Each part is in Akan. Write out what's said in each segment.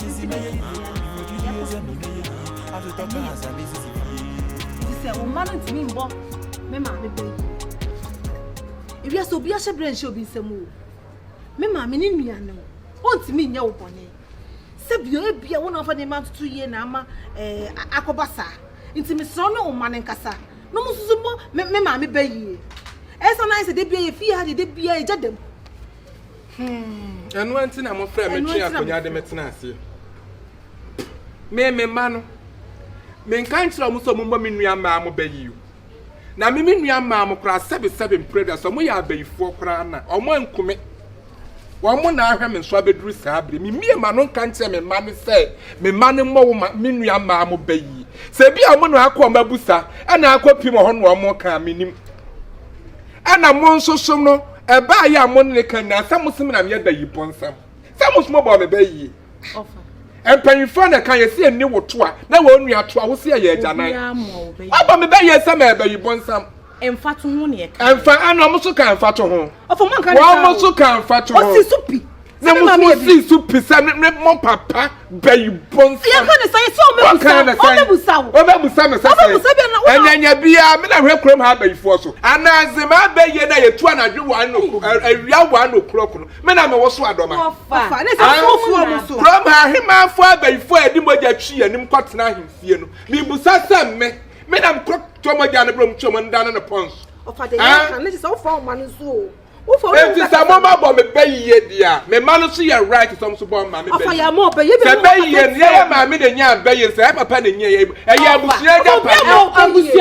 Sisi bɛyɛ yie a, yɛkɔ so bɔ dua no a, ɛnyɛ yɛn pɛ. Nti sɛ wo mma no ntumi mmɔ me maame bra yi a, ewiase obi ahyɛ bra nhyɛ obi nsam o. Me maame ne nua no, ɔntumi nyɛ wo bɔne. Sɛ bio ebia wo na wafa nneɛma ntoto yie na ama ɛɛ eh, akɔba saa. Nti mesrɛ wo ne wo mma no nkasa na wɔn nso mmɔ me maame bra yie. Ɛyɛ sɛ na ayɛ sɛ da biara yɛ fie ha deɛ da biara yɛgya dam. Ɛno nti na mofrɛ me twe akonnwa de me tena aseɛ. Me me mma no, menka nkyerɛ wɔn sɛ wɔmmɔ me nua mmaa mo bɛ yi o. Na me me nua mmaa mo koraa sɛbesɛbe mprɛda sɛ wɔyɛ abayifoɔ koraa na wɔn anku me. Wɔn mo na ahwɛ me nso abɛduru saa bere. Memmie ma no nka nkyerɛ me mma no sɛ me mma no mmɔ wo me nua mmaa mo bɛ yi. Sɛ bi a wɔn na akɔ wɔn abusa ɛna akɔ pim hɔ na wɔn ka menim. Ɛna mo nso so no Ɛbaa yɛ a mo ne ne ka nyinaa sɛ mo som nam yɛ da yi mpo nsɛm sɛ mo som bɔɔ me bɛ yie. Mpanyinfoɔ na ɛka yɛ sɛ ɛnni wo to a na wɔn nua to a wo sɛ ɛyɛ agyanan. Ɔbɔ me bɛ yie sɛ mɛ bɛ yi bɔ nsɛm. Ɛmfa to ho na ɛka yɛ. Ɛmfa ɛna ɔmo so ka ɛmfa to ho. Ɔfɔ mo nka ne saa o. Ɔmo so ka ɛmfa to ho. Ɔsi so pi. na mo so si so pisa ne ne mo papa bɛyi bɔnsa. yɛ kɔ ne sɛ sɛ ɔmɛ busa ɔmɛ busa o ɔmɛ busa mɛ sɛsɛ ɔmɛ busa bi na ɔmɛ ɛnyanya bia mi na hwɛ kurom ha abɛyifoɔ so anaadze ma abɛyie na yɛtu anadwo wa no awia wa no kuro koro mi na mɛ wɔ so adɔma. ɔfa ne sɛ so fu ɔmo so. kurom ha ahemanfoɔ abɛyifoɔ a yɛde mogya twi yɛn anim kɔ tena ahemfie no mi busa sɛ mmɛ mi na mkɔ tɔ mogya no bro mtwi ɔmo nda no ne pɔn so. ɔfa de yɛ kan ne sɛ ɔfa ɔmo ano so o. Enti sɛ mo ma bɔ me bɛ yie di a, me ma no so yɛ right sɛ ɔmo so bɔ ma me bɛ yie. Sɛ bɛ yie no, yɛyɛ maame na nya bɛ yie, sɛ yɛ papa na nya yɛ yie. Ɛyɛ abusua agya pa yɛ.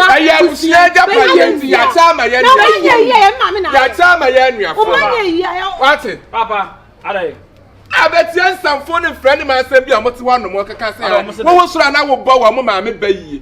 Ɛyɛ abusua agya pa yɛ nti yɛakyɛ ama yɛ nuafoɔ. Yɛakyɛ ama yɛ nuafoɔ. Wate? Papa, adai. Abɛtia nsamfoɔ ne mfra ne ma asɛm bi a ɔmo te hɔ anom ɔkeka sɛ wɔwɔ soro a na wobɔ wɔn maame bɛ yie.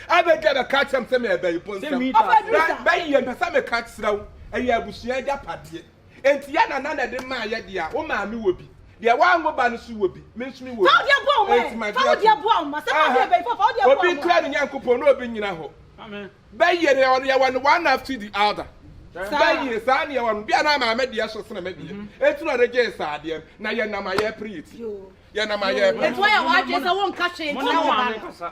Abɛdi a bɛka akyerɛ me sɛ merebɛyi bo nsɛm. Bɛyi mpɛ sɛ meka kyerɛ wo, ɛyɛ abusua agyapadeɛ. Enti yɛ nana na ɛde maa yɛ deɛ a, wo maame wɔ bi. Deɛ wanwo ba no nso wɔ bi, me nso mewɔ bi. Fa wo deɛ boa wo mma ɛ. Fa wo deɛ boa wo mma. Sɛ fa deɛ bɛyi fɔ, fa wo deɛ boa wo mma. Obi nkura ne Nyankopɔn na obi nyina hɔ. Bɛyi no, yɛwɔ no one after the other. Bɛyi, saa na yɛwɔ no. Bia na maame deɛ so sene me deɛ. Enti na ɔde gyee saa adeɛ no. Na yɛnam a yɛrepere yɛ ti. Yɛnam a yɛrepere. Enti woayɛ w'adwene sɛ wonka hwee nkyerɛ wo ba no.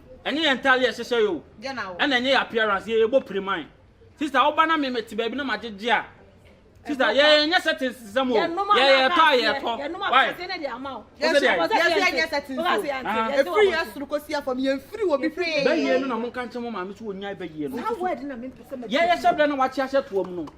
Ɛnyɛ yɛn ntade a yɛhyehyɛ o, ɛna ɛnyɛ yɛn appearance, yɛ yɛbɔ piriman. Sister woba na me mete baabi na magyegye a, sister yɛ yɛnyɛ settings te sɛ mo o, yɛ yɛtɔ a yɛtɔ. Why? Wosɛ deɛ ayɛ? Yɛ sɛ yɛnyɛ settings o, ɛfiri yɛ soro kɔsi yɛ fam, yɛmfiri wɔ bi hwee. Bɛyie no na monka nkyerɛ mo maame sɛ ɔnyae bɛyie no. Yɛ yɛhyɛ berɛ na wakye ahyɛ toa mu no.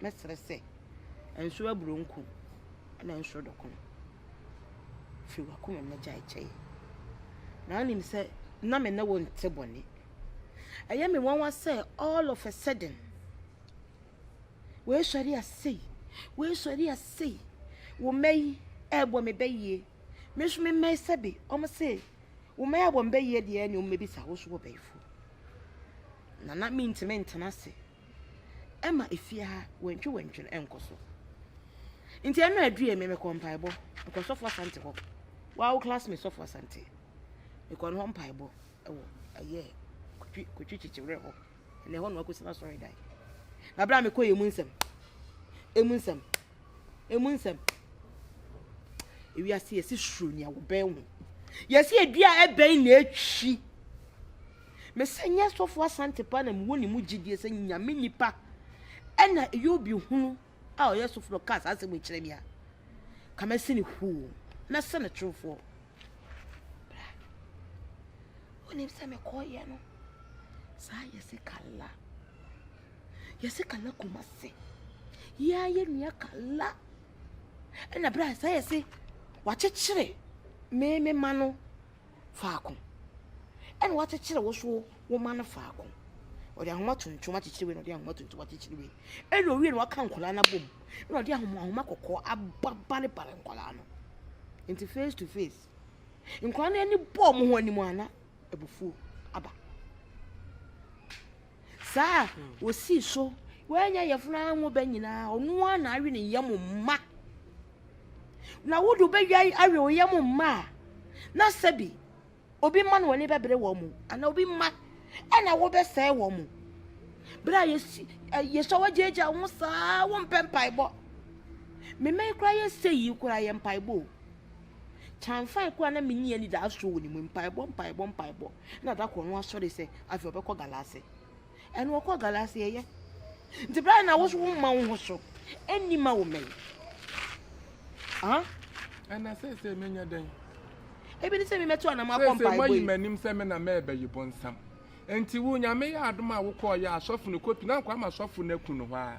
mɛserɛ sɛ, Nso aburonku na nso dɔko no, firi w'akoma mu na gyae kyɛ yɛn. Na wonim sɛ na me ne wo nte bɔne. Ɛyɛ me nwanwa sɛ all of a sudden, woesɔre asei, woesɔre asei, wo mma yi ɛrebɔ me bɛ yie, me nso me mma yi sɛbe, wɔn se, wo mma yi abɔ me bɛ yie deɛ ɛne wɔn mmɛbisa wo so wɔ bɛyifoɔ. Na na mentumi ntena ase. ɛma efie ha wɛntwewɛntwe no nkɔ so. Nti ɛno adue me mekɔ mpaebɔ, mekɔ sɔfo asante hɔ. Wow class me sɔfo asante. Mekɔ no hɔ mpaebɔ ɛwɔ ɛyɛ kotwi kotwi kyekyewrɛ hɔ. Ɛnna ɛhɔ na wakɔsi na sɔre dan. Na bere a mekɔ yɛ mu nsɛm, emu nsɛm, emu nsɛm. Ewiase yɛsi suro nea wɔbɛn ho. Yɛsi edua ɛbɛn na etwi. Mesɛ nyɛ sɔfo asante paa na mewɔ ne mu gyidie sɛ nyame nipa ɛna ɛyɛ obi hunu a ɔyɛ sɔfo na ɔka saa asɛm kyerɛ me a ka mɛsɛ ne huu mɛsɛ ne torofoɔ bra wonim sɛ mekɔɔyɛ no saa yɛse kala yɛse kala kuma se yɛa yɛ nua kala ɛna bra saa yɛse wakyekyere me me ma no faako, ɛna wɔakyekyere wo so wo mma no faako. Ɔde ahoma tuntum akyekyere wei na ɔde ahoma tuntum akyekyere wei. Ɛna owie na waka nkwadaa no abom. Ɛna ɔde ahoma ahoma kɔkɔɔ ababalebale nkwadaa no. Nti face to face. Nkwadaa no ani bɔɔ wɔn ho anim a na abufuo aba. Saa a, osii so, Woanya yafunu ara ngo bɛ nyinaa, ɔno ara na awe ne yam mma. Na wode wobɛdwa awe wo yam mma a, na sɛbi obi mma na wɔne bɛbrɛ wɔn mu, anaa obi mma ɛna wobɛsɛe wɔn mu. Berɛ a yɛsi yɛsɔ wagyaagyaa wo saa wompɛ mpaebɔ. Mmemme yi koraa yɛsɛ yi koraa yɛ mpaebɔ o. Kyaamfae koraa na minni anidaso wɔ ne mu. Mpaebɔ, mpaebɔ, mpaebɔ. Ɛna da koro no asɔre sɛ afei ɔbɛkɔ galase. Ɛna ɔkɔ galase ɛyɛ. Nti bra na wo so wo mma wo ho so. Ɛnni ma wo mmɛn. Ah? Ɛna sɛsɛ menya dɛn? Ebi ne sɛ memɛto anam akɔ mpaebɔ yi. Sɛsɛ mayi m'anim sɛ me na mɛbɛyi bonsam. Nti wo nyame yɛ adom a wokɔɔ yɛ asɔfo no kɔpi na nkɔ ama asɔfo no aku no hɔ a.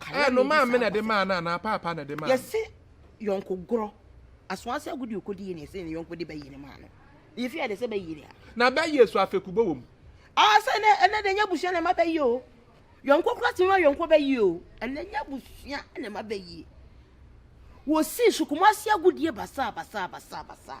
Ɛ no maame na ɛde maa no anaa paapa na ɛde maa no? Yɛse yɔnko gorɔ. Asoa sɛ agodi okodi yɛ na yɛse ne yɔnko de bɛyɛ ne maa no. Yɛ fi ade sɛ bɛyɛ ni a. Na bɛyɛ so afekubɔ wɔ mu. Aa sɛ ɛnɛ ɛnɛ de nyɛ abusua na ɛma bɛyɛ o. Yɔnko kora tumi ma yɔnko bɛyɛ o. Ɛnɛ nyɛ abusua na ɛma bɛyɛ. Wɔsi sukumasi agodie basaa basaa basaa basaa.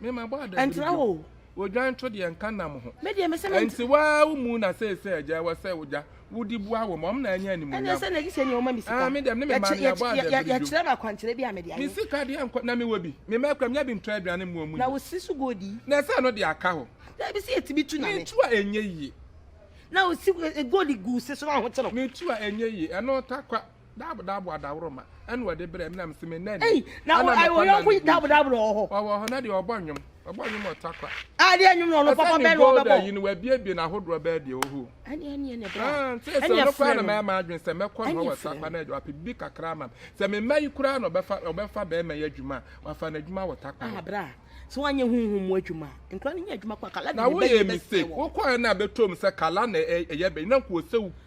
Me ma bɔ adabiri Ɛntra bio. o. Odwan to deɛ nka nam ho. Me deɛ me se ment. Ɛnti waa wo mu na seesei agya ɛwɔ sɛ ogya wo de bua wɔn wɔn na anya animuonyam. Ɛnɛ sɛ na gyesɛ nea ɔma me sika. Ah me deɛ me ne me maame yɛabɔ adabiri bio. Yɛkyerɛ me akwankyerɛ bi a me de ayɛ. Me sika deɛ nkɔ na me wɔ bi. Me mɛkura menya bi ntɔ aduane mmoa mu nyi. Na wo se so gold yi. Na ɛsɛ ɛno deɛ aka hɔ. Daabi se yɛtumi tu na me. Me tu a ɛnyɛ yie. Na wo se gold gu wo se so na wo ho te no. Me tu a ɛnyɛ yie ɛno takwa. Dab dab wa daworo ma. Ɛna ɔde brɛ menam se me nani. Ei na wɔ ayɛ ɔyɔnko yi dab dab na ɔwɔ hɔ. Ɔwɔ hɔ na deɛ ɔbɔ nnwom. Ɔbɔ nnwom wɔ takwa. Adeɛ nnwom na ɔno papa bɛn na ɔbɛbɔ. Ɛsɛ ne gold ayi no wabiebie na ahodoɔ bɛɛ deɛ ɔhɔ. Ɛne ɛne ɛne bra. Ah nti sɛ ɔno koraa na mɛyɛ m'adwene sɛ mɛkɔ no wɔ takwa na ɔpɛ bibi kakra ama me. Sɛ me mma yi koraa na ɔbɛfa ɔbɛfa bɛrima yi adwuma a wafa no adwuma wɔ takwa. Ah bra. Sɛ wanyɛ huhum mu adwuma. Nkura no nyɛ adwuma kwa kala de ne bɛyɛ bɛsɛ wɔ. Na woyɛ mistake. Wokɔɛ na bɛtɔm sɛ kala na ɛyɛ bɛyɛ na nka ɔsɛ wo.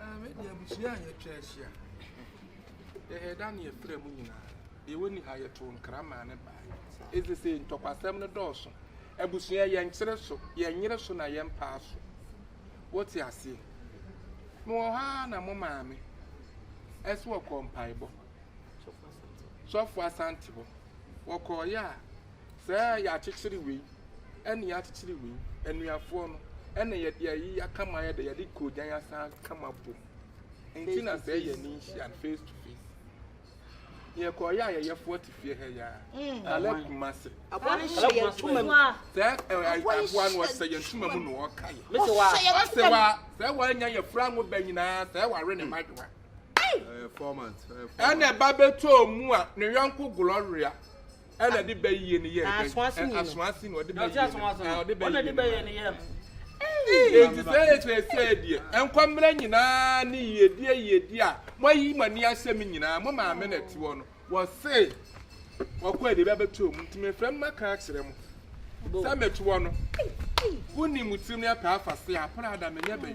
Ah, me deɛ abusua a yɛatwa ahyia yɛyɛ da ne yɛfrɛ mu nyinaa deɛ wɔni ha yɛtoo nkra maa ne bae ɛsɛ sɛ ntɔkwasɛm no dɔɔso abusua yɛnkyere so yɛnyere so na yɛmpaa so wote aseɛ mewɔ hɔ ara na mo maame ɛso wɔkɔɔ mpaebɔ sɔfo asante hɔ wɔkɔɔyɛ a Sɛ yɛakyekyere wei, ɛnna yɛakyekyere wei. Anuafoɔ no, ɛnna yɛde ayi aka ma ayɛ dɛ, yɛde koogyan asan aka ma abom. Enti na sɛ yɛn ani nhyia no, face to face. Yɛkɔɔ yɛ ayɛyɛfoɔ te fie ha yi ara, mm. Caleb Kumase. Aboa no hyɛ yɛn ntoma mu. Sɛ aboa no ɔhyɛ yɛn ntoma mu na ɔka yɛ. Ɔsɛ wa, sɛ wanya yɛ fura ngo bɛ nyinaa, sɛ wawe ne madwoa. Ɛna ɛba bɛtɔ mu a, ne yɔnko Gloria. Ɛna ɛde bɛ yie no yɛɛ dɛn? Asoase na ɔde bɛ yie no na ɔde bɛ yie no yɛɛ. Enti sɛ ɛkyerɛ sɛ deɛ nkwammera nyinaa ne yiedie yiedie a moayi mo ani ahyɛ me nyinaa mo maame na ɛte hɔ no wɔse wɔkɔ adi bɛbɛtɔ mu nti mefrɛ mo maka akyerɛ mo sɛ mete hɔ no wonim tirim ne apɛ afase a prada menyɛ bɛyi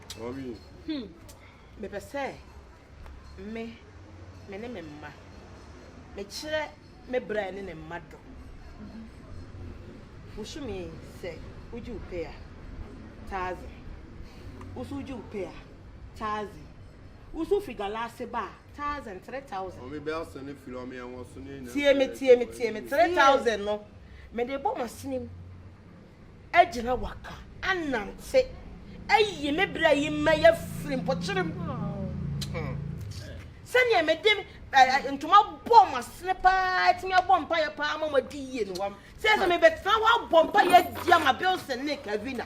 Hmm. Mepɛ sɛ me me ne me mma mekyerɛ me bra ne ne mma dɔ. Wohyumi sɛ wogye wo pay a taadze. Woso wogye wo pay a taadze. Woso wofiri galaase ba a taadze three thousand. Ɔme bɛ asɛ ne firi ɔme ɛwɔ so ne nyinaa. Tie me tie me tie me three thousand no mede bɔ m'asene mu. agyina waka anante ayi me bra yi mɛyɛ afiri mpɔkyere mu hmm. sɛdeɛ mede ntoma bɔ mo asene paa atumi abɔ mpaeɛ paa ma moadi yie no sɛ sɛ mebɛtena hɔ abɔ mpaeɛ adi ama bilson ne kavina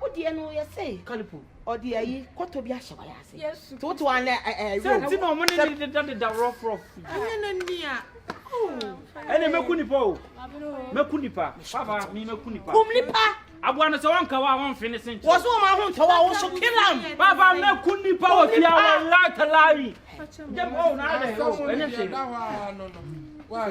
wo deɛ no yɛ sɛ kalipo ɔde ayi kɔtɔ bi ahyɛ wayɛ ase Yesu nti wote wa na ɛyɛ sɛ nti na ɔmo ne ne deda deda rɔfrɔf ɛnyɛ na nia ɛne mɛku nipa o mɛku nipa papa mi mɛku nipa kum nipa aboa no sɛ wɔnka wa wɔnfe ne sente wɔso wɔn aho ntɔ wa wɔso kilam papa mɛku nipa wɔ fia wɔ latalari dɛm ɔwɔ na adɛ ɛnyɛ hwee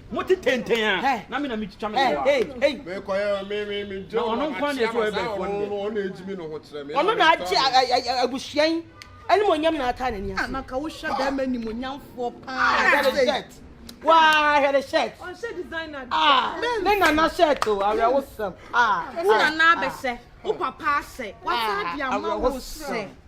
mo te tenten a na me na me twitwa me wa me kɔ ya me me me jo ɔno nkwa na ɛsɛ ɔbɛ fo no ɔno ɛgyimi no ho kyerɛ me ɔno na agye abusua yi ɛne mo nyam na aka ne ni ase na ka wohwɛ bɛrima ni mo nyamfoɔ paa hɛre shirt waa hɛre shirt ɔnhyɛ designer ah ne nana shirt o awɛ wo sɛm ah wo nana abɛhyɛ wo papa ahyɛ wasa de ama wo sɛ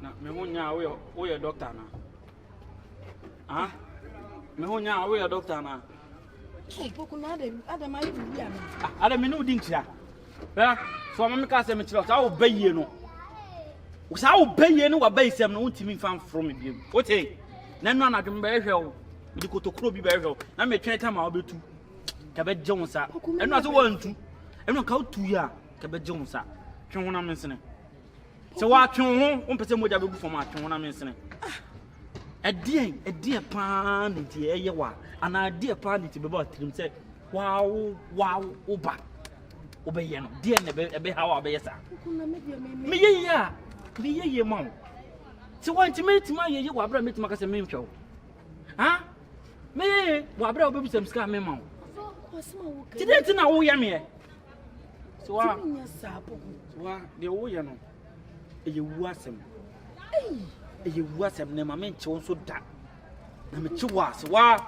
Na me ho nyaa woyɛ woyɛ dɔkta na. Ah, me ho nyaa woyɛ dɔkta na. Mpoku na adam adam ayɛ bibi ama. Ah, adam me ne wodi nkyia. Bɛ, so ɔma me ka sɛ mekyerɛ saa wo bɛyie no. Saa wo bɛyie ne wabɛyi sɛm no wontumi mfa mforo me biam. Wote? Na ɛno anadwo me bɛhwɛ wo. Mede kotokuro bi bɛhwɛ wo. Na metwɛn tam a wobɛtu. Ka bɛgye wo nsa. Ɛno ase wantu. Ɛno ka wotu yɛ a, ka bɛgye wo nsa. Twe honam nsene. Sɛ wɔatwe wo ho, wompɛ sɛ mogya bɛgu fam atwe ho na mensene. Ɛdeɛn, ah, ɛdeɛ paa ne nti ɛyɛ wa anaa ɛdeɛ paa ne nti bɛbɔ atirim sɛ wawo wawo wo ba wobɛyɛ no deɛ na ɛbɛha wo a bɛyɛ saa meyɛ yie a meyɛ yie ma wo sɛ wantumi atumi ayɛ yie wɔ aberɛ a mɛtumi aka sɛ mentwa wo ha meyɛ yie wɔ aberɛ a wobɛbisam sika a mema wo nti dɛn nti na woyɛ meɛ tumi nyɛ saa poku. wa deɛ woyɛ no ɛyɛ wu asɛm ɛyɛ wu asɛm na ɛma menkye wo nso da na mekye wo ase waa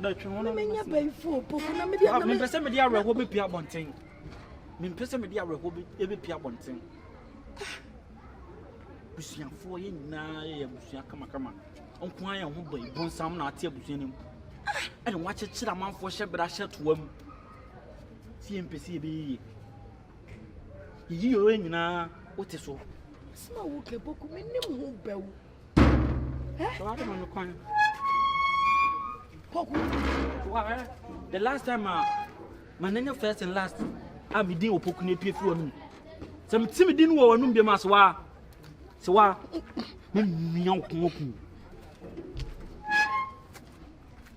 menya bɛyifoɔ poku na mede mempɛ sɛ mede awerɛhoɔ bɛpia abɔnten mempɛ sɛ mede awerɛhoɔ bɛpia abɔnten busuafoɔ yɛ nyinaa yɛ abusua kamakama nko a yɛn ho bɔ bonsam na ate abusua no mu ɛne woakyekyere amanfoɔ hyɛ berɛ ahyɛ toa mu sɛ yɛmpɛ sɛ yɛbɛyɛ yie. Yiyi yɛ nyinaa wote so. Asɛm a woka boku menim ho bɛwo. Wɔadoma me kwan. Kɔko. The last time a ma n'anya first and last a me din wɔ poku no apue fi w'anum. Sɛ mete me din wɔ w'anum biam a sɛ waa sɛ waa memmia wo kɔn aku.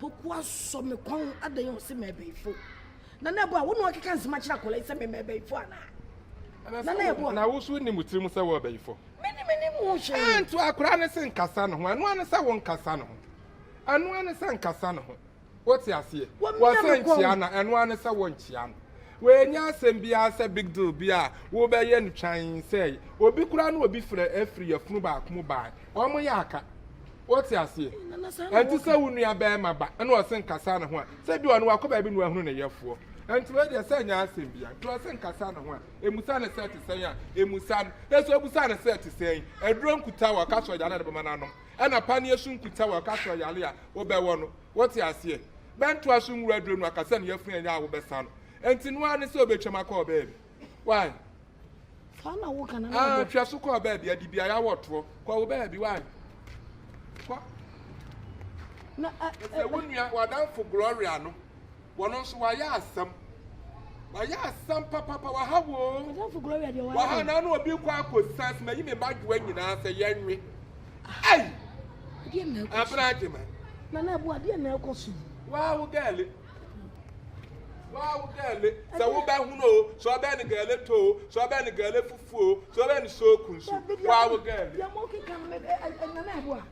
Poku asɔ me kɔn adɛn a ɔse mɛbɛyifo. Nana ɛbɔ a wo na ɔkeka nsɛm akyerɛ akwadaa yi sɛ me mɛbɛyifo anaa? Nana ɛbɔ a. Na wo so nnim wo tirim sɛ wo ɔbɛyifo? Me ne menim ho hwee. Ɛnto akwadaa no se nkasa ne ho, ɛno ara ne sɛ wo nkasa ne ho. Ɛno ara ne sɛ nkasa ne ho. Wo te aseɛ? Wɔse nkyea no a, ɛno ara ne sɛ wo nkyea no. Wei nyɛ asɛm biara sɛ big deal bi a wo bɛyɛ no twann sɛɛ. Obi koraa ne obi frɛ afiri yafunu baako mu bae. Wɔn yɛ aka. Wote aseɛ? Ɛnti sɛ wo nua bɛrima ba ɛna ɔse nkasa ne ho a, sɛ bi ɔno wakɔ baabi na wahunu ne yɛfoɔ. Ɛnti wei deɛ sɛ nyɛ asɛm bia, nti ɔse nkasa ne ho a, emusa ne sɛ te sɛn a, emusa no. Nanso ebusa ne sɛ te sɛn, aduro nkuta wɔ ɔka sɛ ɔyare a ne bɛma no anom, ɛna paneɛ so nkuta wɔ ɔka sɛ ɔyare a wobɛwɔ no. Wote aseɛ? Bɛntoa so nwura aduro no aka sɛ ne yafunu ɛnyɛ a wobɛsa no. Ɛnti noa ne sɛ obetwam akɔ ɔbaabi. Wai? saa na wo kana na ah twɛ so kɔ baabi adi bi ayɛ wɔ toɔ kɔ wo baabi wa kɔ na ɛsɛ wo nua wadanfo gloria no wɔn nso wayɛ asɛm wayɛ asɛm papapa waha woo wadanfo gloria deɛ wayɛ waha na ano obi kɔ akɔ san sima yi mi ma dwoa nyinaa sɛ yɛnwe ayi abena adwuma na na ɛboa deɛ na ɛkɔ so yi waa wo gɛɛle Waa wo gɛɛle sɛ wobɛhono o sɛ ɔbɛn ne gɛɛle tɔ o sɛ ɔbɛn ne gɛɛle fufu o sɛ ɔbɛn ne sooku nso waa wo gɛɛle. Deɛ mo keka no ɛnyɛ na ɛboa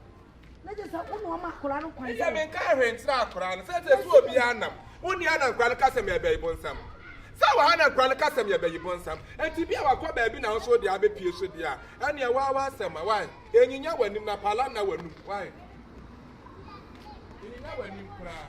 na gye sɛ wone ɔma akora no kwan sɛ. Menka ahwɛ nkyerɛ akora no sɛ sɛ so obi anam wonni anankora no ka sɛ mɛbɛyi bonsam sɛ wɔ ha na nkora no ka sɛ mɛbɛyi bonsam nti bi a wakɔ baabi na wo so wode abɛpie so deɛ a ɛneɛ waa w'asɛm a wae ɛnyinya w'anim na pala nna w'anum wae ɛnyinya w'anim koraa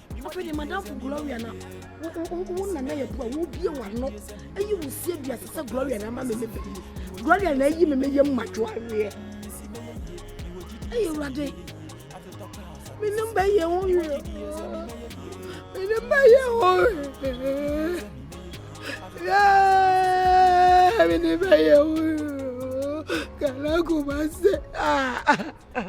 afei de madamfo gloria na wo nana yɛ boa wobie wano ayi wo sie duase sɛ gloria na ama meme bɛyi gloria na ayi meme yɛ mmadwo aweɛ ɛyɛ awurade menim bɛyɛ wo werɛ menim bɛyɛ wo werɛ menim bɛyɛ wo werɛ kana kuma sɛ ah